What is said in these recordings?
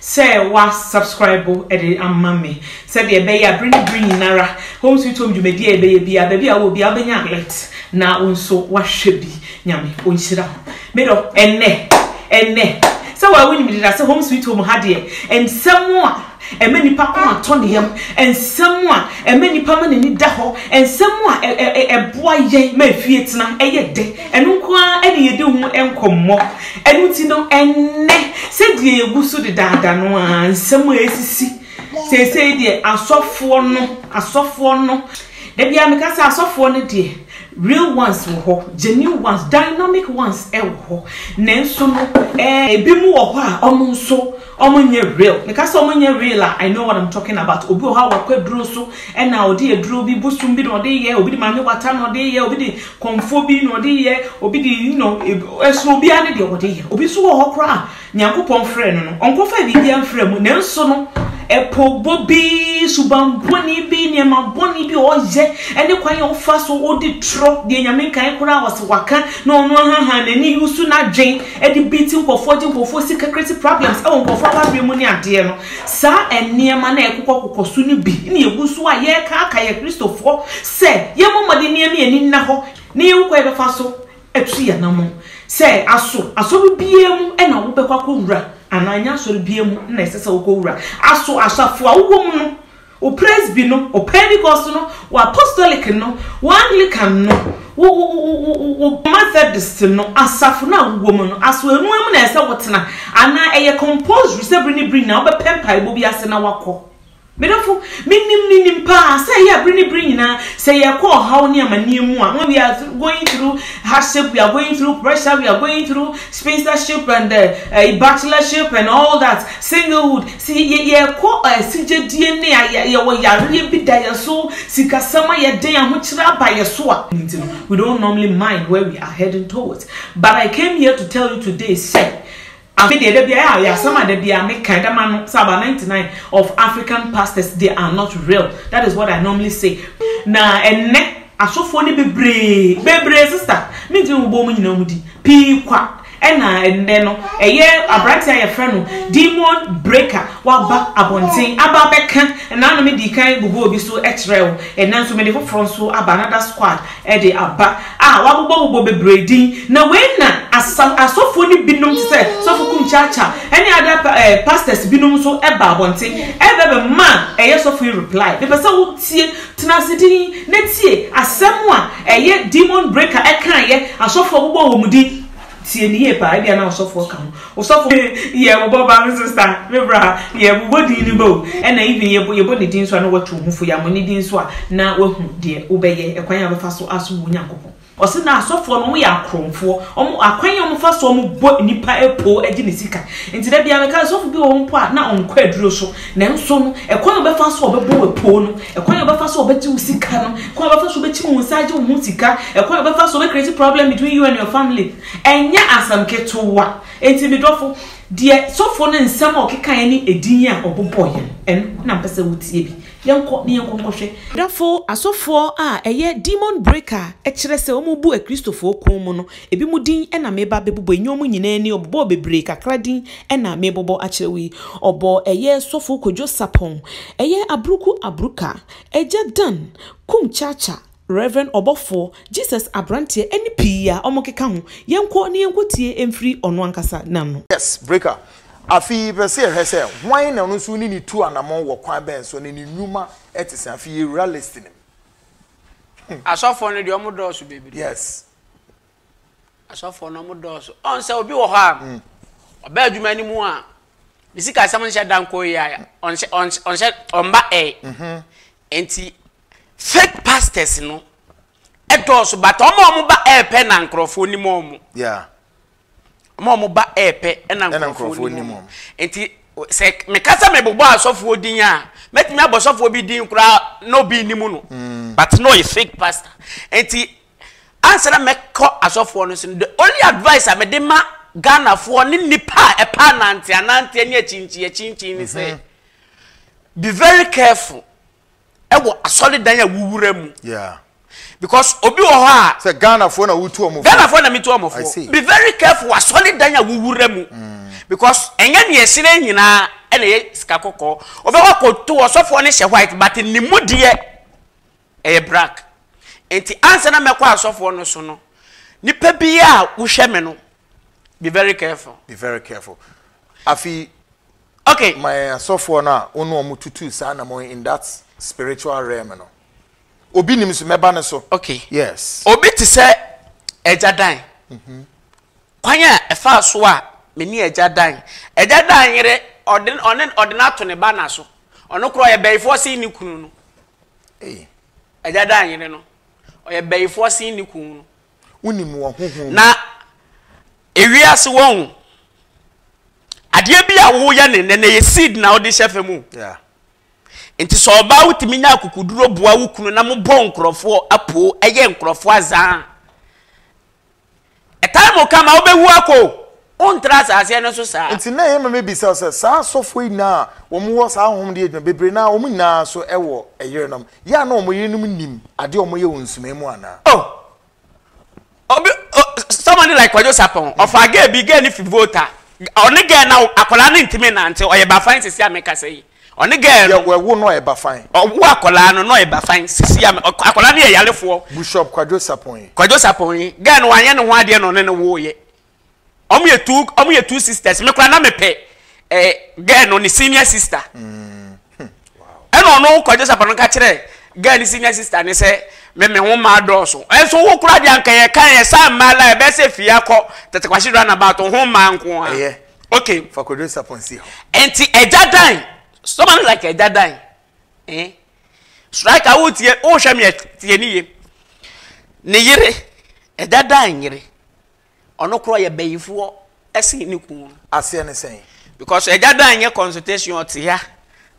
sɛ wa subscribe de ama me sɛdeɛ ɛbɛyɛ a bere ne bere nyinara home sweet home dwumadi a ɛbɛyɛ bia baabi a wɔ bia wobɛnya alert na wo nso wahwɛ bi nyame ɔnhyira ho medɔ ɛnɛ ɛnɛ sɛ wa wonim deda sɛ home sweet home ha deɛ nsɛm a ɛma nipa kɔn atɔ ne yam nsɛm a ɛma nipa ma n'ani da hɔ nsɛm a ɛboa yɛn ma efie tena ɛyɛ dɛ ɛno nko ara ɛna yɛdi ho nkɔmmɔ Ɛno nti no, ɛnnɛ, sɛdeɛ yɛgu so dedaada no ara, nsɛm a ɛresisi seesei deɛ, asɔfoɔ no, asɔfoɔ no, da biara meka sɛ asɔfoɔ no deɛ, real ones wɔ hɔ, genuine ones, dynamic ones wɔ hɔ, nanso no, eh, ebinom wɔ hɔ a wɔn nso, Ɔmo nyɛ real. Meka sɛ ɔmo nyɛ real a, I know what I'm talking about. Obi wɔ hɔ a wakɔ aduro so na ɔde aduro bi, bosom bi na ɔde reyɛ, obi de maame wata na ɔde reyɛ, obi de kɔmfoɔ bi na ɔde reyɛ, obi de you know, ɛsono obiara ne deɛ ɔde reyɛ. Obi nso wɔ hɔ koraa a, Nyankopɔn frɛɛ no no, ɔnkɔfaa biribiara mfraa mu, nanso no, ɛpoobɔ bi, suban bɔne bi, nneɛma bɔne bi a ɔyɛ, ɛne kwan a ɔfa so ɔde trɔ deɛ Nyame nkae koraa a ɔse waka, na ɔno ahahan n'ani, use n'adwen, de beat nkurɔfoɔ gye nkurɔfoɔ sika crazy problems wɔ nkurɔfoɔ awareɛ mu ne adeɛ no saa nneɛma na ɛkokɔkokɔ so no bi ne yɛgu so a yɛrekaaka yɛ kristofoɔ sɛ yɛmmɔ mmɔden ne yɛma yɛni nna hɔ ne yɛhu kɔ yɛbɛfa so atu yɛ anamo sɛ aso asɔre biara mu na wobɛkɔ akɔwura anaa nyɛ asɔre biara mu na ɛsɛ sɛ wokɔwura aso asafo a wowɔ mu no Wo Presby no, wo Pentekost no, wo Apostolic no, wo Anglican no, wo, wo, wo, wo, wo, wo Methodist no, asafo no a wowɔ mu no, aso ɛno ara mu na ɛsɛ sɛ wotena? Anaa ɛyɛ compulsory sɛ bere ne bere nyinaa wobɛpɛ mpaebɔ bi ase na woakɔ? Me dɔfo, menim, menim paa sɛ ɛyɛ a bere ne bere nyinaa sɛ yɛkɔ ɔhaw ne amanneɛ mu a, when we are going through hardship, we are going through pressure, we are going through spinstership and uh, uh, bachelorship and all that, singlehood, Sɛ yɛ, yɛrekɔ ɛ, sigyadie nne a, yɛ, yɛwɔ yareɛ bi da yɛ so, sikasɛm ayɛ den, ahokyerɛ aba yɛ so a, ne nti no, we don't normally mind where we are heading towards. But I came here to tell you today sɛ, a, me deɛ da biara, ɛyɛ asɛm a da biara me kan, da ma no, sɛ about 99 of African pastors, they are not real. That is what I normally say. Na ɛnnɛ. Asɔfoɔ no bebree bebree sister mentumi nbobɔ wɔn nyinaa mu din pii kwa ɛna ɛnnɛ no ɛyɛ abranteɛ a yɛfrɛ no Demon Breaker waba abɔnten aba abɛka ɛna no medi kan bobɔɔ obi so kyerɛɛ wo ɛnɛ nso mede foforɔ nso aba another squad ɛde aba a wabobɔ bobɔ bebree din na wei na asa asɔfoɔ no binom te sɛ sɔfo kum kyaakya ɛne ada pa ɛɛ pastors binom nso ɛba abɔnten ɛbɛbɛ ma ɛyɛ sɔfo yi reply mepɛ sɛ wotie Tena ase dinn na tie asɛm a ɛyɛ demon breaker ɛkaeɛ. Asɔfoɔ a wɔbɔɔ wɔn din, tie no yie paa, ebia na ɔsɔfoɔ ka ho. Ɔsɔfo, yɛbobɔ ba me sista, me bra, yɛbobɔ din no ba o, ɛna even yɛbɔ, yɛbɔ ne din so a na watu wo ho fo, yɛammɔ ne din so a na woahu deɛ wobɛyɛ, ɛkwan a wobɛfa so asom wo Nyankopɔn. Ɔse na asɔfoɔ no wɔyɛ akorɔmfoɔ, wɔn akwan yi a wɔfa so wɔn bɔ nipa poo gye ne sika, nti da biara meka sɔfo bi wɔ hɔ mpo a na ɔnkɔ aduro so, nanso no ɛkwan a ɔbɛfa so a ɔbɛbɔ wo poo no, ɛkwan a ɔbɛfa so a ɔbɛgye wo sika no, kwan a ɔbɛfa so ɔbɛkyim wo nsa agye wo ho sika, ɛkwan a ɔbɛfa so ɔbɛ create problem between you and your family, ɛnyɛ asɛm ketewa, nti me dɔfo, deɛ sɔfo no nsɛm a ɔkekaeɛ ne ɛdin a ɔbobɔeɛ no, ɛno na mpɛ sɛ wotie bi, Yɛnkɔ na yɛnkɔ nkɔhwɛ. Dɔfo asɔfoɔ a ɛyɛ demon breaker a ɛkyerɛ sɛ wɔn bu akristofoɔ kɔn mu no, ebinom din na meba bɛbobɔ, ɛnyɛ wɔn nyinaa ni, ɔbobɔɔ bebree, kakra din na mebobɔ akyerɛ wo yi. Ɔbɔɔ ɛyɛ Sɔfo Kojo Sarpong, ɛyɛ Abruku Abruka, Agya Dan, Kum Chacha, Rev. Ɔbɔfoɔ, Jesus abranteɛ ɛne pii a ɔmo keka ho, yɛnkɔ na yɛnkɔ tie ɛmfiri ɔno ankasa no ano. Yes breaker afei yɛpɛ sɛ yɛhwɛ sɛ hwan na ɔno nso ne ne tu anamɔn wɔ kwan bɛn so na ne nnwuma te sɛn afei yɛwura list no mu hmm. Asɔfoɔ no deɛ ɔmo dɔɔso bebree. Yes. Asɔfoɔ no ɔmo dɔɔso ɔn sɛ obi wɔ hɔ a hmm. ɔbɛ adwuma no mu a ne sika asɛm nhyɛ da nkɔ yi a ɔnhyɛ ɔnhyɛ ɔnba ɛɛ. Mhm. Nti Fake pastors no ɛdɔɔso but wɔn a wɔn ba ɛɛpɛ na nkorɔfoɔ nim wɔn. Wɔn yeah. a wɔn ba ɛɛpɛ na nkorɔfoɔ nim wɔn. Nti sɛ meka sɛ mebobɔ asɔfoɔ din a mɛtumi abɔ sɔfoɔ bi din koraa na obi nim no mm. but no yɛ fake pastor nti ansa na mɛkɔ asɔfoɔ no so no the only advice a mede ma ghanafoɔ ne nipa a ɛpa anante anante ne akyinkyin akyinkyin ne sɛ mhm. be very careful ɛwɔ asɔredan a wowura mu. Yeah. Because obi wɔ hɔ a. Sɛ Ghanafoɔ na wotu ɔmo fo. Ghanafoɔ na metu ɔmo fo. Be very careful asɔredan a wowura mu. Mm. Because ɛnyɛ nea ɛsere nyinaa ɛna ɛyɛ sika kɔkɔɔ. Ɔbɛkɔ akɔtu ɔsɔfoɔ no hyɛ white but ne mu deɛ ɛyɛ black. Nti ansa na mɛkɔ asɔfoɔ no so no nipa bi a wohwɛ me no be very careful. Be very careful. Afi Okay. Ma yɛn asɔfoɔ no a wo ne wɔn tutu saa anamɔn yi in that spiritual realm no. Obi nim so mɛba ne so. Okay. Yes. Obi te sɛ Agya Dan. Mm-hmm. Kwan a ɛfa so a me ne Agya Dan. Agya Dan yere ɔde ɔne ɔde no ato ne ba na so. Ɔno kora ɔyɛ bɛyifoɔ sen ne kunu no. Hey. Agya Dan yere no ɔyɛ bɛyifoɔ sen ne kunu no. wonim wɔ honhom mu. Na ewiase wɔn adeɛ bi a woyɛ ne nnɛ na ɛyɛ seed na wode hyɛ fam o. Yeah. Nti sɛ ɔbaa wotumi nya akukuduro boa wo kunu na mobɔ nkurɔfoɔ apoo ɛyɛ nkurɔfoɔ azaa. A time will come a wobɛwu akɔ o. Wontra asaaseɛ no so saa. Nti na ɛyɛ ma mebisa sɛ, saa asɔfoɔ yi nyinaa a wɔn wɔ saa honhom de yɛ adwuma, bebree no ara, wɔn nyinaa nso wɔ yerenom, yɛ a na wɔn yerenom nim adeɛ a wɔyɛ wɔ nsumae mu anaa? Oh! Obi, somebody like Kwadwo Sarpong, ɔfaa girl bi, girl no fi Volta, ɔne girl no awo, akwadaa no ntumi nnante, ɔyɛ Bafan sisi a mekasa yi, ɔne girl no. Yɛ, wɔwo no ɔyɛ Bafan. Ɔwo akwadaa no na ɔyɛ Bafan sisi a, akwadaa no yɛ yarefoɔ. Bushop Kwadwo Sarpong yi. Kwadwo Sarpong yi, girl no wanyɛ ne ho adeɛ na ɔne no woeɛ. Ɔmo yɛ two ɔmo yɛ two sisters me koraa na me pɛ ɛɛ eh, girl no ne senior sister. Mm. Hmm. Ɛna ɔno kɔgye sapɔ no ka kyerɛ girl ne senior sister ne sɛ me me ho mmaa dɔɔso. Ɛnso wo koraa deɛ anka yɛ kan yɛ saa mmaa la ɛbɛyɛ sɛ fie akɔ tete kwasi run about ho mmaa nko ara. Ɛyɛ. Okay. Fa kɔgye sapɔ nsi hɔ. Ɛnti ɛgya dan someone like ɛgya dan. Eh? Strike a wotie wohwɛ me tie ne yie. Ne yere ɛgya dan yere. Ɔno kora yɛ bayifoɔ sen ne kunu no. Aseɛ ne sɛn? Because agya Dan nyɛ consultation ɔte ha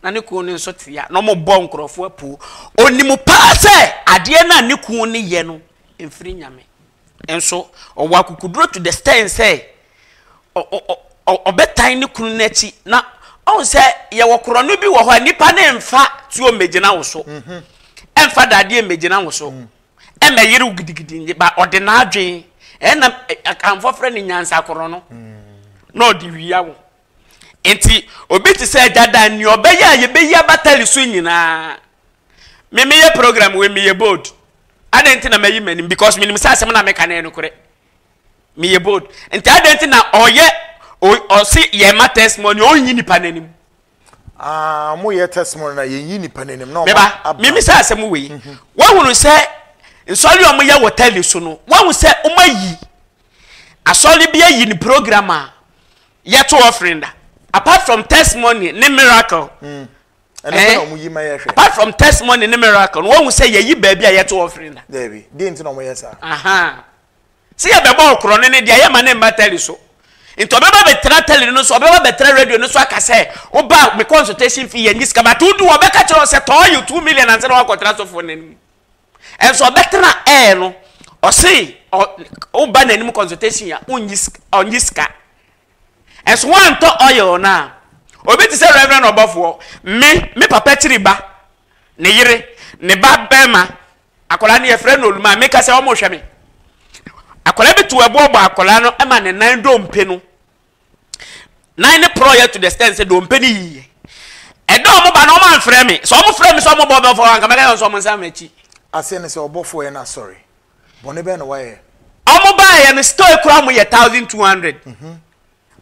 na ne kunu no nso te ha na wɔn bɔ nkorɔfoɔ apuo. Onim paa sɛ adeɛ no a ne kunu no yɛ no mfiri nyame. Nso ɔwɔ akukuduro to the stand sɛ ɔbɛtan ne kunu no akyi na ɔn sɛ yɛwɔ korɔno bi wɔ hɔ a nipa no mfa tuo mmegyina wo so. Ɛmfa dadeɛ mmegyina wo so. ɛmɛ yere wo gidigidi nye ba ɔde n'adwen ɛna akanfoɔ frɛ ne nyansakorɔ no na ɔde wia wo nti obi te sɛ agya dan nea ɔbɛyɛ a yɛbɛyi abatali so nyinaa memeyɛ program wei meyɛ bold adɛn nti na mayi m'anim because menim sɛ asɛm na meka ne nokorɛ meyɛ bold nti adɛn nti na ɔyɛ ɔse yɛma testimony ɔnyi nipa n'anim Ah, mo yɛ testimony na yɛn yi nipa n'anim na ɔma abira. Meba, mimi sɛ asɛm wei. Mhm. Wahunu sɛ nsɔre a wɔyɛ wɔ tele so no, wahu sɛ wɔayi asɔre bi ayi ne program a yɛto offering da. Apart from testimony ne miracle. Mm. Ɛno eh? na wɔn yi ma yɛ hwɛ. Apart from testimony ne miracle, wɔn sɛ yɛyi baabi a yɛto offering da. Dɛbi, deɛ nti na wɔn yɛ saa. Aha. Sɛ yɛbɛbɔ ɔkorɔn no ne deɛ yɛma no mma tɛli so. Nti ɔbɛba bɛtena tɛli no so, ɔbɛba bɛtena radio no so aka sɛ woba me consultation fee yɛnyi sika but wodu hɔ ɔbɛka kyerɛ wo sɛ tɔɔ yɛ two million ansa na woakɔtena sɔfoɔ no anim. Ɛnso ɔbɛtena ɛɛ no ɔse woba n'anim consultation a wonyi ɔnyi sika. Ɛnso woantɔ oil no a obi te sɛ reverend ɔbɔfoɔ me me papa kyiri ba ne yere ne ba bɛrima Akwadaa no yɛfrɛ no Olumaa. Meka sɛ wɔrehwɛ me. Akwadaa bi to ɛboɔ bɔ akwadaa no ma ne nan dompe no. Nan no porɔeɛ to the extent sɛ dompe no yiiɛ. Ɛda wɔn ba no wɔn amfrɛ me. Sɛ wɔn frɛ me sɛ wɔn bɔ bɛfɔ anka mɛka yɛn sɛ wɔn nsa m'akyi. Aseɛ ne sɛ ɔbɔfoɔ yɛ no asɔre. Bɔne bɛn na wayɛ? Wɔn baeɛ no sika a ekura wɔn yɛ thousand two hundred. Mhm.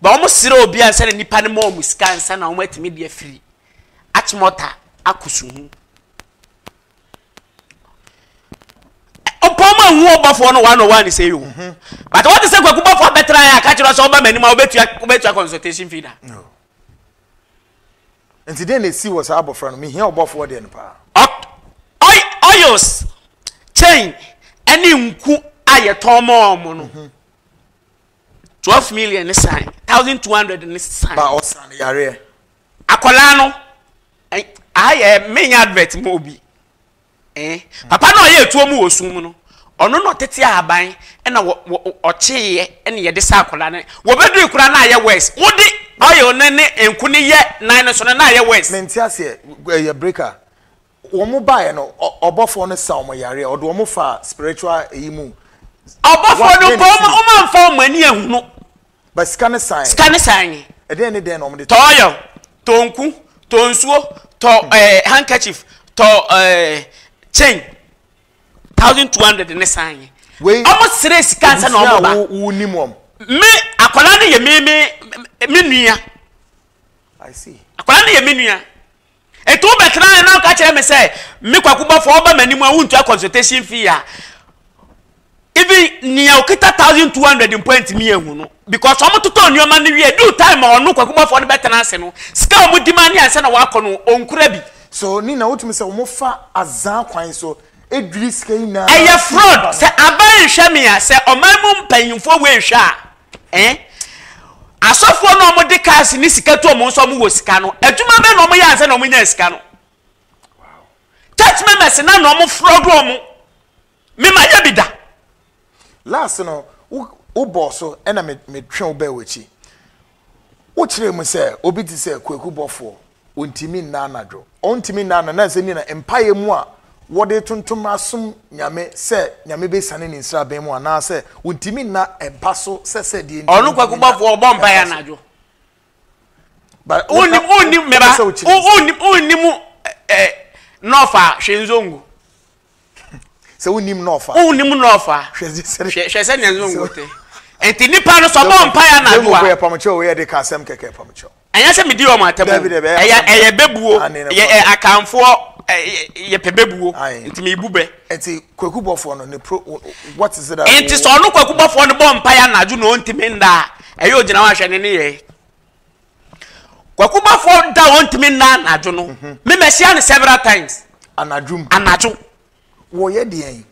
Ba wɔn srɛ obi ansa na nipa no ma wɔn sika ansa na wɔn atumi de afiri akyemɔta akɔ suhu. ɔpɔn mu ehu ɔbɔfoɔ no one on one sɛ yio mhm. but wɔte sɛ kwaku bɔfoɔ abɛtena yɛ aka kyerɛ sɛ ɔba m'anim a wobɛtua consultation fee da nti dɛn na ɛsi wɔ saa abɔfra no mehia ɔbɔfoɔ deɛ no paa oils chain ɛne nku a yɛtɔn mɔɔ mu no mhm. Twelve million ne san. Thousand two hundred ne san. Ba ɔsan ne yareɛ. Akwadaa no, aha yɛ menya advert mu obi. Eh, papa no ɔyɛ etuo mu wɔ sum mu no, ɔno na ɔtete ahaban ɛna ɔkyeeɛ ɛna yɛde sa akwadaa no. Wɔbɛdui koraa na ayɛ worse. Wode oil no ne nko no yɛ nan no so no na ayɛ worse. Mente aseɛ, ɛyɛ breaker. Wɔn baeɛ no ɔbɔfoɔ no sa wɔn yareɛ ɔde wɔn faa spiritual eyi mu. Ɔbɔfoɔ no bɔ wɔn wɔn anfa wɔn ani ahunu. Ba sika ne san. Sika ne san ni. Ɛdɛn ne dɛn na wɔn de. Tɔ ɔyɔ, tɔ nku, tɔ nsuo, tɔ ɛɛ handkerchief, tɔ ɛɛ chain thousand two hundred ne san ni. Wei wɔn sere sika nsa na wɔn ba. Ebusua a wo wo nim wɔn. Me akwadaa no yɛ me me me nua. I see. Akwadaa no yɛ me nua. Enti wobɛtena ha na woka kyerɛ me sɛ, me Kwaku Bɔfoɔ, woba m'anim a wontua consultation fee a, even nea okita thousand two hundred mpo antumi anhu no because wɔn totɔ nneɛma no wie due time a ɔno Kwaku Bɔfoɔ no bɛtena ase no sika a wɔn di ma ne ansa na wakɔ no ɔnkura bi. So ne na wotumi sɛ wɔn fa azan kwan so dwiri sika nyinaa. Ɛyɛ fraud sɛ aban nhwɛ me a sɛ ɔman mu mpanyinfoɔ wei nhwɛ a. Eh? Asɔfoɔ na wɔn de cars ne sika to wɔn nso wɔn wɔ sika no. Adwuma bɛ na wɔn yɛ ansa na wɔn nya sika no. Church members na na wɔn fraud wɔn. Me ma yɛ bi da. Last no, wo wo bɔɔ so ɛna me me twe wo bɛɛ wɔ akyi. Wo kyerɛ mu sɛ obi ti sɛ kwaku bɔfoɔ. Ontumi nna anadwo. Ontumi nna anadwo. Nanso ɛnneɛ na mpaeɛ mu a wɔde tontom asom Nyame sɛ Nyame bɛsiane ne nsraban mu anaasɛ ontumi nna mpa so sɛ sɛ deɛ nti Ɔno Kwaku Bɔfoɔ ɔbɔ mpaeɛ anadwo. Wonnim wonnim meba wonnim wonnim eh, eh, nɔfa hwɛ nzongo. Sɛ wonnim na ɔfa. Wonnim na ɔfa. Hwɛ sɛ nea nso nkote. Enti nipa no sɛ ɔbɔ mpaeɛ anadwo a. Dɛbi oboyɛ pamkyɛw wei yɛde ka asɛm kɛkɛ pamkyɛw. Ɛnyɛ sɛ medi wɔn atam. Dɛbi dɛbi ɛyɛ asɛm. Ɛyɛ bɛbuo. Yɛ akanfoɔ yɛpɛ bɛbuo. Nti mebu bɛ. Nti kwaku bɔfoɔ no ne pro what is it that. Nti sɛ ɔno kwaku bɔfoɔ no bɔ mpaeɛ anadwo na ɔntumi nda a ɛyɛ ogyina hɔ ahwɛ ne ne yɛ. Kwakubafoɔ da a wɔntumi nna anadwo no, mhm. me mahyia no several times. Anadwo mu. Anadwo. Wɔyɛ deɛn?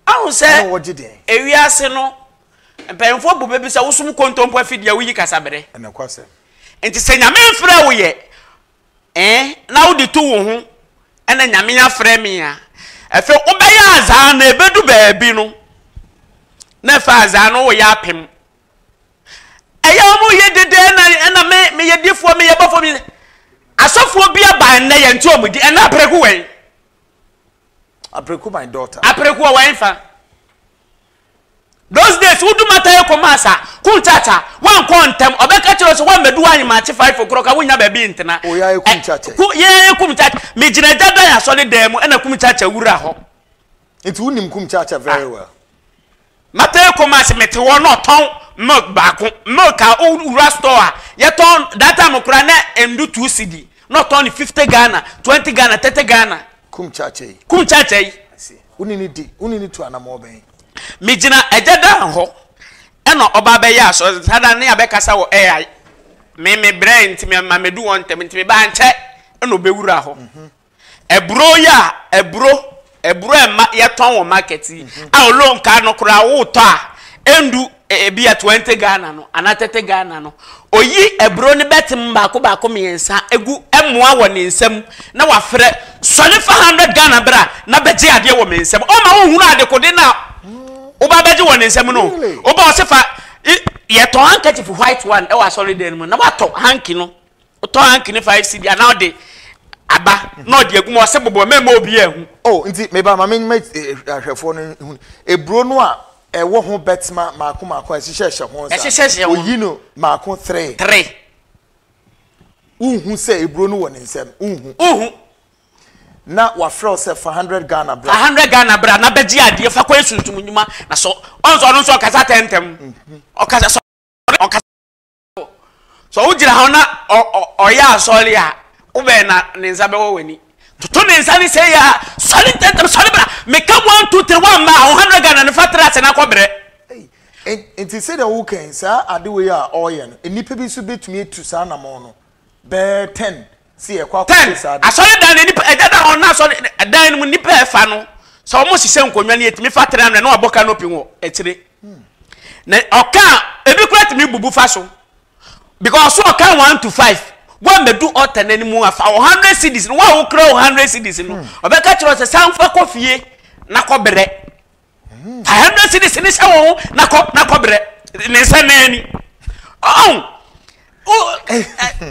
Ahu sɛ ewiase no mpanyinfoɔ bu bɛbi sɛ wosom kontompo afidie a woyi kasabere. Ɛnɛkwasɛm. Nti sɛ nyame mfrɛ wo yɛ eh, na wode to wo ho ɛna nyame afrɛ me a ɛfɛ wobɛyɛ azaa na ɛbɛdu baabi no na ɛfɛ azaa no woyɛ apem ɛyɛ wɔn yɛ dede ɛna ɛna me me yɛ difoɔ me yɛ bɔfoɔ me asɔfoɔ bi aba ɛnɛ yɛn ti wɔn di ɛnɛ apreku wɛn. apreku my daughter. apreku wɔ wɔn fa those days wodu mata yɛ kɔn asa kun tata wɔn kɔn ntɛm ɔbɛka kyerɛ sɛ wɔn mɛdu wɔn anyima akyi five o'clock ka wɔn nya baabi ntena. o yɛ ayɛ kum tata. ku yɛ ayɛ kum tata me gyina gya dan asɔre dan mu ɛna kum tata wura hɔ. nti wunim kum tata very ah. well. M'atare Kumasi mete hɔ na ɔtɔn milk baako milk a wo wura store a yɛtɔn that time koraa na endu two cedi na ɔtɔn ne fifty Ghana twenty Ghana thirty Ghana. Kum Kyakya yi. Kum Kyakya yi. I see wo ne ne di wo ne ne tu anamɔ bɛn. Me gyina Agya Dan hɔ ɛna ɔba abɛyɛ asɔre saa da no ne abɛkasa wɔ ai me me brɛɛ nti me ma me du hɔ ntɛm nti me ba ankyɛ ɛna ɔbɛwura hɔ. Aburo yi a, aburo, aburo a ɛma yɛtɔn wɔ market yi mhm. a ɔlo nkaa no koraa wotɔ a ɛndu e, e, ebi a twenty Ghana no anaa thirty Ghana no oyi aburo no bɛtem baako baako mmiɛnsa egu ɛmoa wɔ ne nsam na wafrɛ sɔne fa hundred Ghana bra na bɛgye adeɛ wɔ me nsam ɔma wohunu adekode na woba bɛgye wɔ ne nsam no woba ɔse fa yɛtɔn handkerchief white one ɛwɔ asɔre dan mu na watɔ hanky no. Ɔtɔ hanky ne five cedi anaa ɔde aba na ɔde agu mu ɔse bobɔ mɛmma obiaa nhu. Oh nti meba ma menma ahwɛfoɔ no nhu aburo no a ɛwɔ ho bɛtma maako maako a ɛhyehyɛ hyɛ ho saa Ɛhyehyɛ hyɛ ho. oyi no maako three. Three. Wonhu sɛ aburo no wɔ ne nsam wonhu. Wonhu. Na wafrɛ wo sɛ fa hundred Ghana bra. Fa hundred Ghana bra na bɛgye adeɛ fa kɔyɛ sunsum nnwuma na sɛ ɔn sɛ ɔno nso ɔkasa tɛntɛm ɔkasa sɔre ɔkasa. sɛ wogyina hɔ na ɔyɛ asɔre a wobɛn na ne nsa bɛwɔ w'ani toto ne nsa ne sɛ yɛ a sɔre ntɛntɛm sɔre bra meka one two three one ma ahoha no gana ne fa tra ase na kɔbrɛ nti sɛdeɛ wo kɛn saa ade wei a ɔreyɛ no nnipa bi nso bɛtumi atu saa namɔn no bɛɛ ten Ten, asɔredan no nnipa, ɛda no a wɔn asɔre dan no mu nnipa a ɛfa no, sɛ wɔn hyehyɛ nkonnwa no yɛtumi fa tena na wɔabɔ canopy wɔ akyire. Na ɔka a ebi kura tumi bubu fa so because ɔka one to five wɔn mɛdu ɔta n'anim afa o hundred cities no wɔn a wɔkura o hundred cities no ɔbɛka kyerɛ sɛ sanfa kɔ fie na kɔ brɛ. Fa hundred cedis no hyɛ wo ho na kɔ na kɔ brɛ ne nsa na ani. Oh,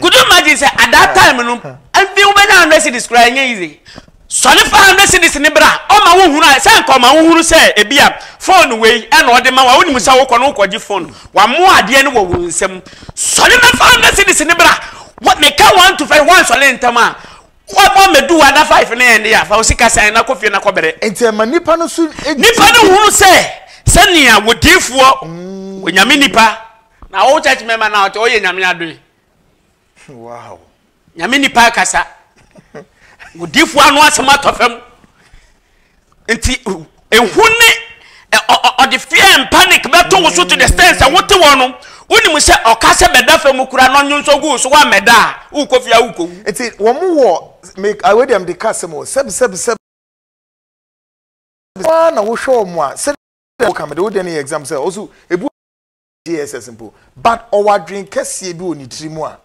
could you imagine sɛ at that time no ɛnfi wo bɛnya hundred cedis kura ɛnyɛ easy. Sɔne fa hundred cedis ne bra ɔma wo hunu a sɛ nka ɔma wo hunu sɛ ebi a phone wei ɛna ɔde ma wa wo nim sɛ wokɔ no wokɔ gye phone wa mo adeɛ no wɔ wo nsam sɔne mɛfa hundred cedis ne bra meka one to five wɔn sɔle ntɛm a Wa bɔ mɛdu wa da five ne yɛn de yɛ afa osika san na kɔ fie na kɔ bɛrɛ. Nti ɛma nnipa no so. Nnipa no hunu sɛ sɛnea wɔ diifoɔ wɔ nyame nnipa na ɔwɔ church mɛma na ɔte ɔyɛ nyame adoe. Wow. Nyame nnipa kasa. Wɔ diifoɔ ano asɛm atɔ fam. nti ehu ne ɔde fear and panic bɛto wo so to the extent sɛ wote wɔ no wonim sɛ ɔka sɛ bɛda fam mu kura na ɔnwo nso gu so woammɛda a wokɔ fie a wokɔwu nti wɔn wɔ awɛ deɛ mede ka sɛ mo sɛbsɛbsɛb na wohwɛ wɔn a sɛdeɛ woka mede wodeɛ no yɛ exam sɛ ɔso ebu JSS mpo, but ɔwɔ adwene kɛseɛ bi wɔ ne tiri mu a,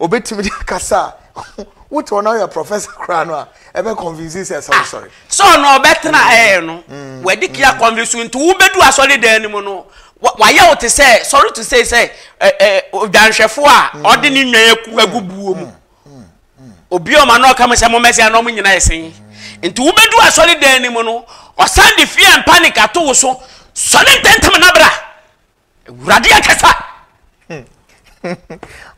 obɛtumi de akasa a, wote ɔno ayɛ professor koraa no a, ɛbɛ convince sɛ ɛsɛ wosɔre. Sɛ ɔno ɔbɛtena mm. ɛɛ no, mm. wɔde kia mm. convince wo nti wobɛdu asɔre dan no mu no, wayɛ wo te sɛ, sorry to say sɛ, odwanhwɛfoɔ a ɔde ne nnwan aku agu buo mu. Obi a ɔma no ɔka mu sɛ mo mɛsɛ na ɔmo nyina ɛsen. Nti wobɛdu asɔre dan no mu no, ɔsan de fear and panic ato wo so, sɔre ntɛntɛm na bra. awurade ankasa hmm.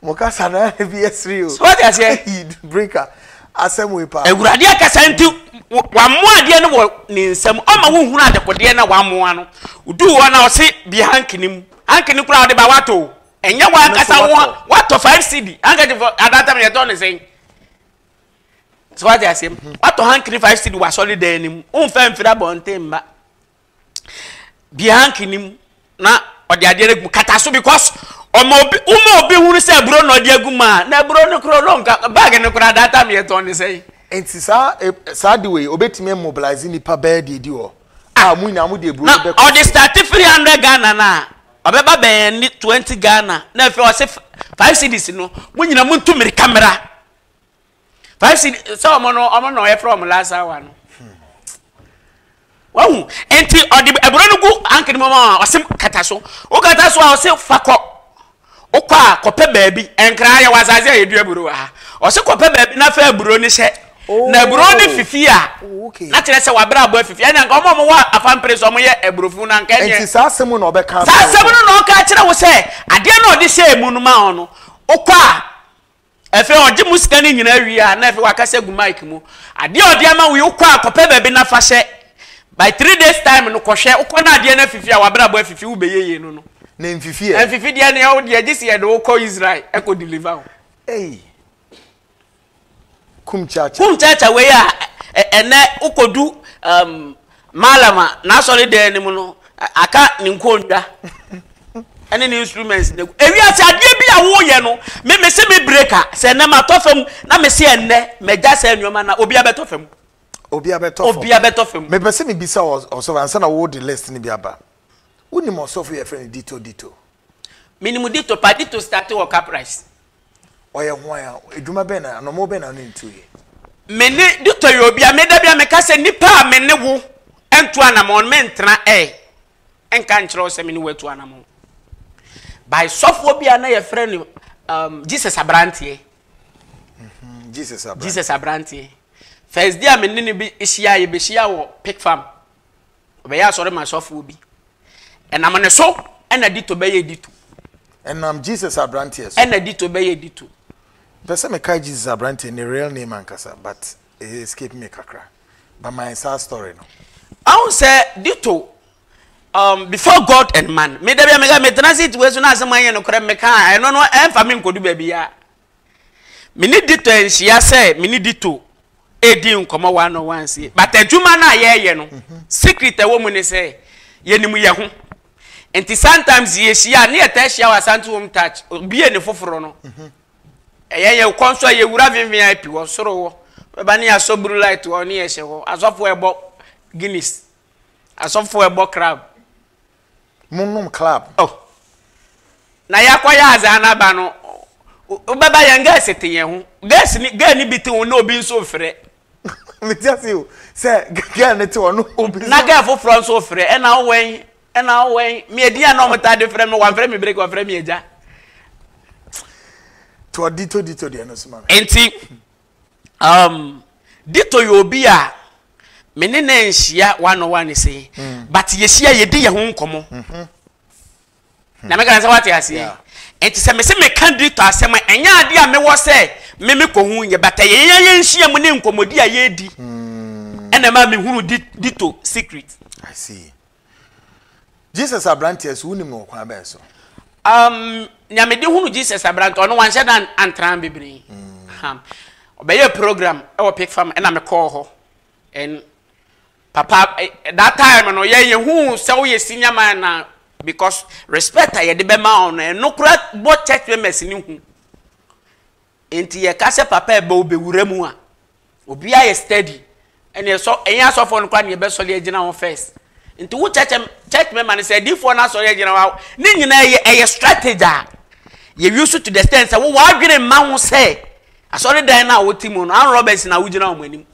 mo kasa na ebi ɛsiri o sɔɔ ti aseɛ eid breaker asɛm wei paa awurade ankasa nti wamo adeɛ no wɔ ne nsam ɔma wo hunu adekodeɛ na wamo ano du hɔ na ɔse bi hankini mu hankini koraa ɔde ba wato ɛnyɛ wɔn ankasa wɔn watɔ five cd hankini fɔ adatam yɛ tɔ ne sɛn sɔɔ ti aseɛ watɔ hankini five cd wɔ asɔre dan ne mu nfa nfira bɔnten mba. bianki no mu na ɔde adeɛ no agu mu kata so because ɔma obi woma obi hunu sɛ aburo na ɔde agu mu a na aburo no korɔ no nka bag no korɔ data mi yɛtɔn ne sɛn. nti saa e, saa de wei obetumi mobilize nipa bɛɛ de edi hɔ a mu nyinaa mo de aburo no bɛkɔ. na ɔde start three hundred ghana na ɔbɛba bɛn ne twenty ghana na afei ɔse five cities no mo nyinaa mo ntu mirika mira. five cd sɛ ɔmo no ɔmo na ɔyɛ fira ɔmo last hour no wahu nti ɔde ɛburo no gu anke no mu a ɔse kata so wokata so a ɔse fa kɔ wokɔ a kɔpɛ baabi nkra yɛ wɔ asase a yɛdua aburo wɔ ha ɔse kɔpɛ baabi na fa aburo no hyɛ na aburo no oh. fifi a oh, na kyerɛ sɛ wabrɛ abɔ afifi ɛnna nka ɔmo a ɔmo wɔ afampere so ɔmo yɛ aburofo na nka ɛnyɛ nti saa asɛm no ɔbɛka saa asɛm no na ɔka kyerɛ wo sɛ adeɛ na ɔde hyɛ emu no ma ɔno wokɔ a Afei ɔgye mo sika no nyinaa wie a, na afei wakasa gu mic mu. Adeɛ a ɔde ama wo yi, wokɔ a kɔpɛ baabi na fa hyɛ. By three days time no, kɔhwɛ. Wokɔ na adeɛ no afifi a, w'abrabɔ afifi, wobɛyɛ yie no no. Na ɛmfifi ɛ? Ɛmfifi deɛ neɛ wo deɛ, gye sɛ yɛde wo kɔ Israel kɔ deliver wo. Ei! Kum Chacha. Kum Chacha wei a, ɛnɛ wokɔdu um, Mallam a n'asɔre dan no mu no, aka ne nkonnwa ɛne ne instruments na ewia sɛ adeɛ bi a woyɛ no me me se me breaker sɛ ɛnɛ ma tɔ fam na me se ɛnɛ mɛgya sɛ nneɛma na obi abɛtɔ fam obi abɛtɔ fam obi abɛtɔ fam mepɛ sɛ mebisa ɔsɔfo ansa na wo de list no bi aba wonim ɔsɔfo yɛ fɛ no dito dito Minim Dito paa, Dito starte wɔ Caprice. Ɔyɛ hwan a, adwuma bɛn na anɔmɔ bɛn na ɔne Ntuo yɛ? Me ne Dito yɛ obi a me da bi a meka sɛ nipa a me ne wo ntu anamɔn no mentena ɛ nka nkyerɛ wo sɛ me ne wo atu anamɔn. By sɔfoɔ bi a na yɛfrɛ no um, Jesus Abranteɛ. Mm-hmm. Jesus Abranteɛ. Jesus Abranteɛ. First day a me ne no bi hyia yɛ bɛhyia wɔ Pick Farm. Ɔbɛyɛ asɔre ma sɔfoɔ bi. Ɛnam ne so ɛna dito bɛyɛ dito. Ɛnam Jesus abranteɛ so. Ɛna dito bɛyɛ dito. Mpɛ sɛ mekae Jesus abranteɛ ne real name ankasa but ɛyɛ escape me kakra. But my saa story no. Ahun sɛ dito um, before God and man. Me da bi a meka metena seat wei so na asɛm anyɛ nokorɛ meka a ɛno no ɛmfa me nkɔdu baabi a. Me ne Dito anhyia sɛ me ne Dito redi nkɔmmɔ one on one sei. But adwuma no a yɛreyɛ no, secret a ɛwɔ mu ne sɛ yɛnim yɛn ho. Nti sometimes yɛhyia a, ne yɛtaa hyia wɔ Asante Home Touch, obue ne foforo no. Ɛyɛ yɛn kɔ nso a yɛwura VVIP wɔ soro hɔ. Bɛba ne yɛasɔ blue light hɔ ne yɛhyɛ hɔ. Asɔfoɔ ɛbɔ Guinness. Asɔfoɔ ɛbɔ crab. mo nom club. Oh na yɛ akɔ yɛ adze ana ba no wo bɛ ba yɛn girls te yɛn ho girls ne girl ne bi te ho na obi nso refrɛ. Me ti ase o sɛ girl ne te hɔ no obi nso. Na girl foforɔ nso refrɛ ɛna wo wɛn ɛna wo wɛn me edin a na wɔn taa de frɛ me wɔn afrɛ me break wɔn afrɛ me agya. Tɔ dito dito deɛ no so ma me. Nti. Um, Dito yɛ obi a me ne na nhyia one on one se mm. but yɛhyia yɛdi yɛ ho nkɔmmɔ mm-hmm. na mekana sɛ woate aseɛ nti sɛ mese meka Dito asɛm a ɛnyɛ adeɛ a mewɔ sɛ me mekɔ ho nyɛ but ɛyɛ yɛn yɛnhyia mu ne nkɔmmɔdi a yɛdi mm. ɛna ma mehunu Dito secret I see. Jesus aberanteɛ so, wonim no wɔ kwan bɛn so? Um, nea mede hunu Jesus aberanteɛ, ɔno wanhyɛ da antra bebree. Mm. Ɔbɛyɛ program ɛwɔ Pick Farm, ɛna mekɔɔ hɔ. And papa, eh, that time no, yɛ yɛhu sɛ woyɛ senior man na because respect a yɛde bɛma ɔno, ɛno kora bɔ church members ne hu. Enti yɛka sɛ papa ɛbɛ wo bɛwura mu a, obiara yɛ steady. Ɛnna ɛsɔ ɛnyɛ asɔfoɔ no koraa na yɛbɛsɔre agyina wɔn first. Nti wo church church member no sɛ adiifoɔ no asɔre agyina hɔ a ne nyinaa yɛ ɛyɛ strategy a yɛ use to the extent sɛ wo w'adwene mma ho sɛ asɔredan no a wote mu no armed robbers na wogyina wɔn anim.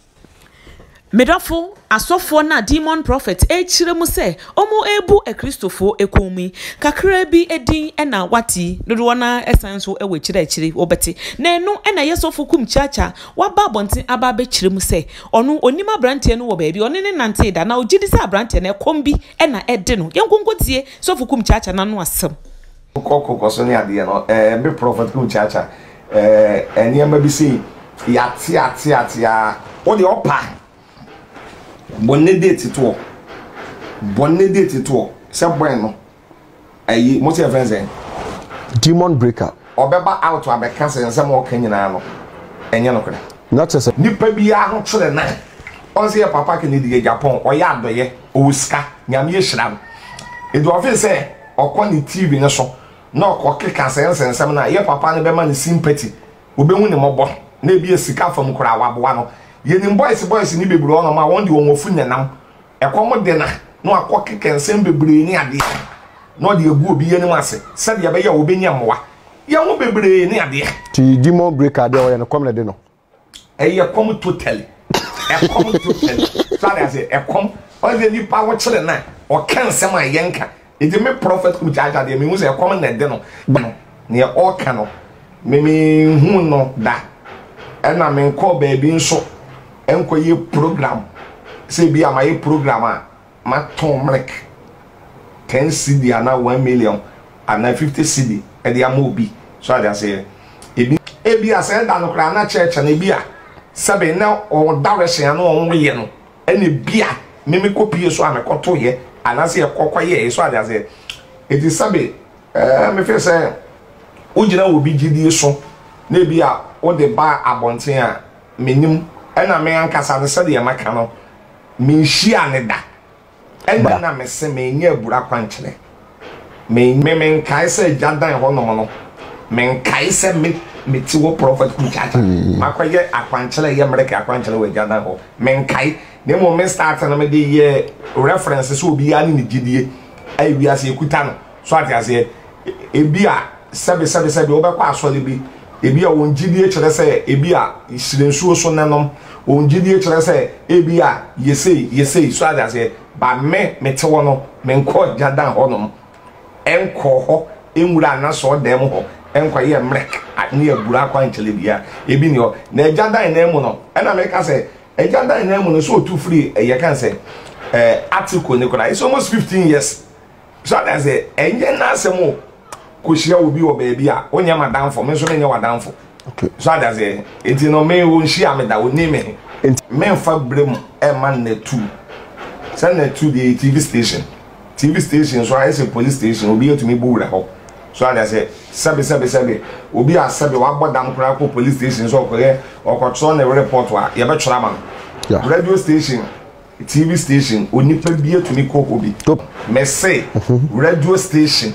Me dɔfo, asɔfoɔ no a demon prophet rekyerɛ mu sɛ wɔrebu akristofoɔ ɛkɔn mu yi, kakraa bi din na wate yi, dodoɔ no ara san nso wɔ akyiri a akyiri wobɛte. Na ɛno na ɛyɛ sɔfo kum kyakya a waba abɔnten aba abɛkyerɛ mu sɛ ɔno ɔnim aberanteɛ no wɔ baabi a ɔne no nantee da, na ɔgye di sɛ aberanteɛ no ɛkɔm bi na ɛde no. Yɛnkɔ nkɔtie sɔfo kum kyakya no ano asɛm. Kɔ kɔ kɔ so ne adeɛ no ɛɛ me prɔfɛt no kyaakya ɛɛ nneɛma bi sei yate ate ate aa wo deɛ ɔpa bɔ ne date toɔ bɔ ne date toɔ sɛ bɔn no ɛyi mo sɛ ɛfɛn sɛ demon breaker ɔbɛba out abɛka sɛ nsɛm a ɔka nyinaa no ɛnyɛ no korɛ na kyɛ sɛ nipa biara ho kyerɛ na ɔn sɛ yɛ papa kennedy yɛ japan ɔyɛ adɔyɛ ɔwɔ sika nyame yɛ hyira no nti ɔfe sɛ ɔkɔ ne TV no so na ɔkɔkeka sɛɛ nsɛnsɛm no a, yɛ papa no bɛma no sympathy, obehu ne mmɔbɔ, na ebia sika fam koraa waboa no. Yɛnim boys boys no bebree wɔ hɔnom a wɔn de wɔn afu nnɛnam, ɛkɔm de no a, na wakɔkeka nsɛm bebree ne adeɛ na ɔde agu obi anim ase sɛdeɛ ɛbɛyɛ a obenya mmoa. Yɛn ho bebree ne adeɛ. Ti demon breaker deɛ ɔyɛ no kɔm na ɛde no. ɛyɛ kɔm totally ɛkɔm totally sáré ase ɛkɔm ɔsɛ nipa wɔkyerɛ na ɔka nsɛm a yɛn ka eti mi prɔfɛt kum kyaakya deɛ mi hu sɛ ɛkɔm na ɛde no no nea ɔka no mimi hu no da ɛna mi nkɔ baabi nso nkɔ yɛ program sɛ ebi ama yɛ program a matɔn milk ten cedi anaa one million anaa fifty cedi de ama obi so ade aseɛ ebi ebi a sɛ ɛda no koraa na kyɛkyɛ no ebi a sɛbe na wɔn direction a na wɔn yɛ no ɛna ebi a mimi kɔ pie so a mekɔ to yɛ anaasɛ yɛkɔ kɔ yɛ so ade aseɛ eti sɛbe ɛɛ mefe sɛ wogyina wɔ bi gyidie so na ebi a wode ba abɔnten a menim ɛna me ankasa no sɛdeɛ maka no Menhyiaa no da. Ɛnna na mese menyɛ abura kwankyerɛ. Me, me, menkae sɛ gya dan hɔnom no. Menkae sɛ me, mete wɔ Prophet Kuchacha, makɔyɛ akwankyerɛ, yɛ mmerɛkɛ akwankyerɛ wɔ agya dan hɔ. Menkae. Na mmom me start no, mede yɛɛ reference sɛ obiara ne ne gyedie a ewiase ekuta no. So ate aseɛ? Ebi a sɛbe sɛbe sɛbe wobɛkɔ asɔre bi, ebi a wɔn gyidie kyerɛ sɛ ebi a hyire nsuo so nanom, wɔn gyidie kyerɛ sɛ ebi a yɛsei yɛsei. So ate aseɛ? Ba me mete hɔ no, menkɔ Jordan hɔnom, ɛnkɔɔ hɔ, ɛnwura anasɔɔ dɛm hɔ, ɛnkɔ yɛ mmerɛk ne abura akwankyerɛ bia, ebi ni hɔ. Na agya dan nan mu no, ɛna meka sɛ, agya dan nan mu no, sɛ ɔtu firi, yɛka sɛ, eh, article ne koraa, it's almost 15 years. So ate ase? Ɛnyɛ n'asɛm o. Kɔhyia obi wɔ baabi a, wonyɛ m'adamfo, me nso menyɛ w'adamfo. So ate ase? Nti no, me ɔnhyia me da, ɔnni me he. Nti memfa berɛ mu mma nnatu. Sɛ nnatu deɛ ɛyɛ TV station. TV station nso ayɛ sɛ police station, obi atumi bu wura hɔ. So ate ase? Sɛbe sɛbe sɛbe, obi a sɛbe wabɔ dam koraa kɔ police station sɛ ɔkɔyɛ, ɔkɔtwerɛ ne report a, yɛbɛtwerɛ ama no. Radio station. TV station onipa bi atumi kɔ hɔ bi mɛse mhm. radio station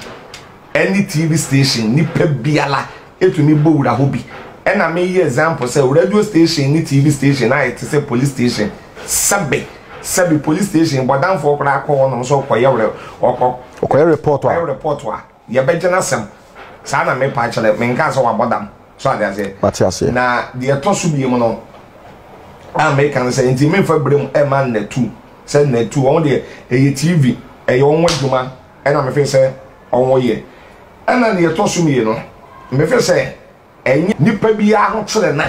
ɛne TV station nipa biara etumi bɔ wura hɔ bi ɛna mi yi example sɛ radio station ne TV station a yɛte sɛ police station sɛbe sɛbe police station bɔdanfoɔ koraa kɔ hɔ nom sɛ ɔkɔyɛ ɔkɔ ɔkɔyɛ report a ɔkɔyɛ report a. Yɛbɛgye n'asɛm. Saa na me paa kyerɛ. Menkaa sɛ wabɔ dam. So ate aseɛ? Mate aseɛ. Na deɛ ɛtɔ so biom no a meka ne sɛ, nti memfa berɛ mu ɛma Nnatu sɛ Nnatu wɔn deɛ ɛyɛ TV, ɛyɛ wɔn adwuma ɛna mefe sɛ wɔn yɛ. Ɛna deɛ ɛtɔ so mmienu, mefe sɛ. Ɛnyɛ nipa biaa ho kyerɛ na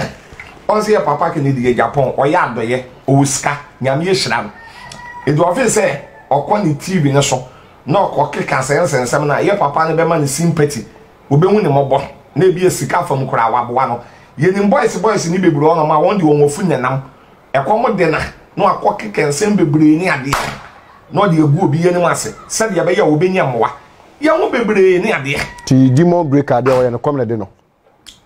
ɔn sɛ yɛ papa Kennedy yɛ Japan ɔyɛ adɔyɛ ɔwɔ sika Nyame ahyira no nti ɔfee sɛ ɔkɔ ne TV no so na ɔkɔ keka sɛ nsɛnsɛm no a yɛ papa no bɛma no sympathy ɔbɛhu ne mɔbɔ na ɛbia sika fam koraa waboa no yɛnim boys boys no bebree ɔnom a wɔn deɛ wɔn afu nyɛ nam ɛkɔm de no a, na wakɔkeka nsɛm bebree ne adeɛ na ɔde agu obi anim ase sɛdeɛ ɛbɛyɛ a wɔbɛnya mmoa. Yɛ ho bebree ne adeɛ. Ti demon breaker deɛ ɔyɛ no kɔm na de no.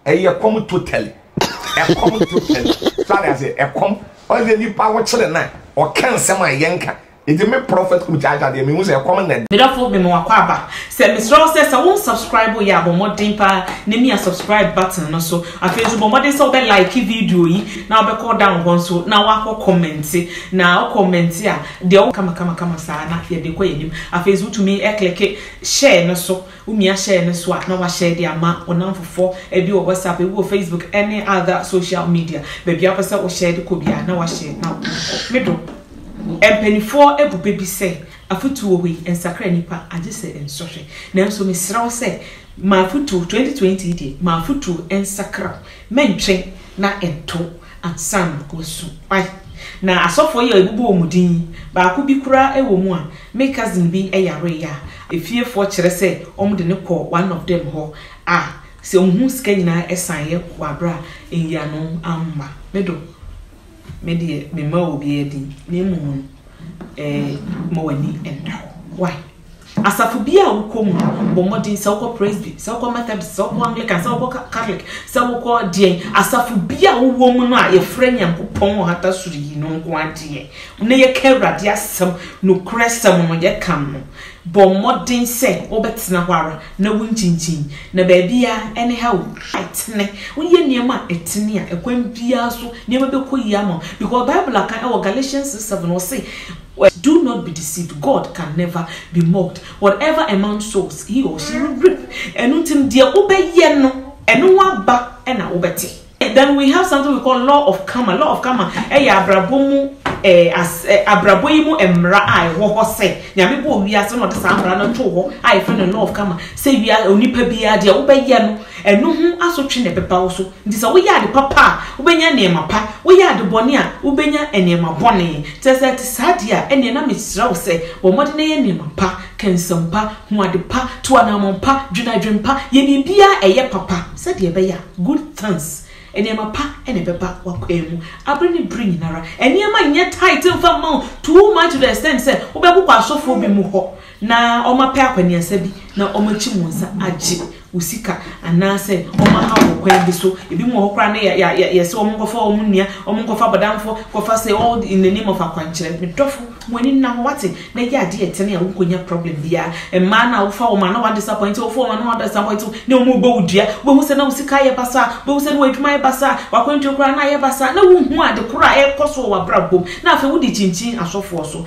Ɛyɛ kɔm totally. Ɛkɔm totally. Sáré ase ɛkɔm ɔyɛ nipa ahokyere na ɔka nsɛm a yɛnka Enti me prophet kum kyaakyaa deɛ mehu sɛ ɛkɔm na ɛde. Medɔfo mema w'akwaaba sɛ mesrɛ wo sɛ sɛ wo nsubscribe yɛ a bɔ mmɔden paa na mia subscribe button no so afei nso bɔ mmɔden sɛ wobɛ like video yi na wobɛkɔ down hɔ nso na woakɔ kɔmɛnte na wo kɔmɛnte a deɛ wo kama kama kama saa na yɛde kɔ yɛnim afei nso wotumi click share no so Wo nua hyɛɛ no so a na wahyɛ de ama wo namfofoɔ ebi wɔ WhatsApp, ebi wɔ Facebook ɛne other social media. Baabiara wopɛ sɛ wohyɛ de kɔ biara na wahyɛ na wokɔ. Me dɔ, mpaninfoɔ abu bɛ bi sɛ afutuo wɔ hɔ yi ɛnsakra nnipa agye sɛ nsɔhwɛ. Nanso mesrɛ wo sɛ m'afutuo, 2020 yi deɛ, m'afutuo ɛnsakra wo, mɛntwe na ɛnto wo. Ansa na wɔasu kwae. Na asɔfoɔ yi a yɛbobɔ wɔn din yi, baako bi koraa wɔ mu a, me cousin bi yareeɛ a, efiefoɔ kyerɛ sɛ wɔde no kɔɔ one of them hɔ a, sɛ wɔhu sika nyinaa saeɛ wɔ aberɛ a, ɛyi ano amma. Me dɔ, me deɛ, memma obiara din, na mmom no, eh, ma w'ani nna hɔ. Why? Asafo biara a wokɔ mu no, bɔ mmɔden sɛ wokɔ Presby, sɛ wokɔ Methodist, sɛ wokɔ Anglican, sɛ wokɔ Catholic, sɛ wokɔ deɛn, asafo biara a wowɔ mu no a yɛfrɛ Nyankopɔn ɔhata soro yi no nko adeɛ, na yɛka Awurade asɛm, nokorɛ sɛm no, yɛka no, bɔ mmɔden sɛ wobɛtena hɔ ara na wonkyinkyin, na baabiara ɛne ha o, ɛtene, woyɛ nneɛma a ɛtene a, ɛkwan biara so, nneɛma bɛkɔ yie ama wo, because Bible aka wɔ Galatians six seven, ɔse, Do not be deceived, God can never be mocked, whatever a man sows, he or she will reap, ɛno nti no deɛ wobɛyɛ no, ɛno w'aba na wobɛte. Then we have something we call law of karma, law of karma ɛyɛ abrabɔ mu eh, as, eh, abrabɔ yi mu mmara a ɛwɔ hɔ sɛ Nyame bɔɔ wiase na ɔde saa mmara no too hɔ a yɛfrɛ no law of karma sɛ wia onipa biara deɛ wobɛyɛ no Ɛno ho asotwe na ɛbɛba wo so. Enti sɛ woyɛ ade papa a, wobɛnya nneɛma pa, woyɛ ade bɔne a, wobɛnya nneɛma bɔne. Sɛ sɛ ɛte saa deɛ a, ɛnneɛ na mesrɛ wo sɛ, bɔ mmɔden yɛ nneɛma pa, ka nsɛm pa, hu ade pa, tu anammɔn pa, dwene adwene pa, yɛ biribiara a ɛyɛ papa, sɛdeɛ ɛbɛyɛ a good things, nneɛma pa, na ɛbɛba w'akwan mu bere ne bere nyinara. Nneɛma nyɛ tight mfa mma wo too much to the extent sɛ wobɛkokɔ asɔfoɔ binom hɔ na wɔapɛ akɔneasa bi na wɔakyi wo nsa agye wo sika anaasɛ wɔahaw wo kwan bi so. Ebinom wɔ hɔ koraa no, yɛse wɔn nkɔfa wɔn nua, wɔn nkɔfa abɔdamfoɔ, kɔfa sɛ all in the name of akwankyerɛ. Me dɔfo, mo ani nna hɔ wate, na yɛ adeɛ ɛtene a wonkɔnya problem biara. Mmaa no a wofa wɔn a na wɔn disappoint wo, wofa wɔn a na wɔn disappoint wo, na wɔn rebɔ wo dua, wobɛhu sɛ na wo sika ayɛ basaa, wobɛhu sɛ na w'adwuma ayɛ basaa, w'akwantuo koraa na ayɛ basaa, na wonhu ade korɔ a ɛrekɔ so wɔ w'abrabɔ mu, na afei wode kyinkyin asɔfoɔ so.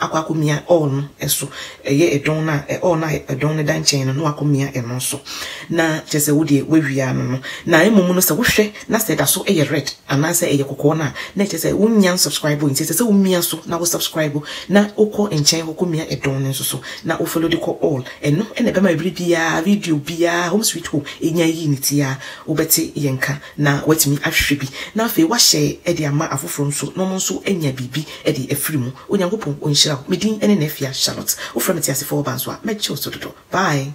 akɔ akɔmia ɛɔɔ no so, ɛyɛ ɛdɔn no a ɛɔɔ no a ɛdɔn no da nkyɛn no na wakɔmia ɛno nso, na kyerɛ sɛ wo deɛ woawia no no. Na mmom no sɛ wohwɛ na sɛ ɛda so yɛ red anaasɛ ɛyɛ kɔkɔɔ no a, na ɛkyerɛ sɛ wonnya nsubscriboo nti ɛsɛ sɛ womia so na wo subscribe na wokɔ nkyɛn hɔ kɔmia ɛdɔn no nso so na wo follow de kɔ all. Ɛno na ɛbɛma ɛberɛ biara, video biara, Home Sweet Home, ɛnya yii ne ti ara, wobɛte yɛn nka. na watumi ahwehwɛ bi, na afei wahyɛ de ama afoforɔ nso, na wɔn nso anya biribi de afiri mu. Onyankopɔn ɔnhyira wo. Me din ne Nefia Charlotte. Wofrɛ me Teasefoɔ Ɔba nso a, mɛgye wo so dodo. Bye!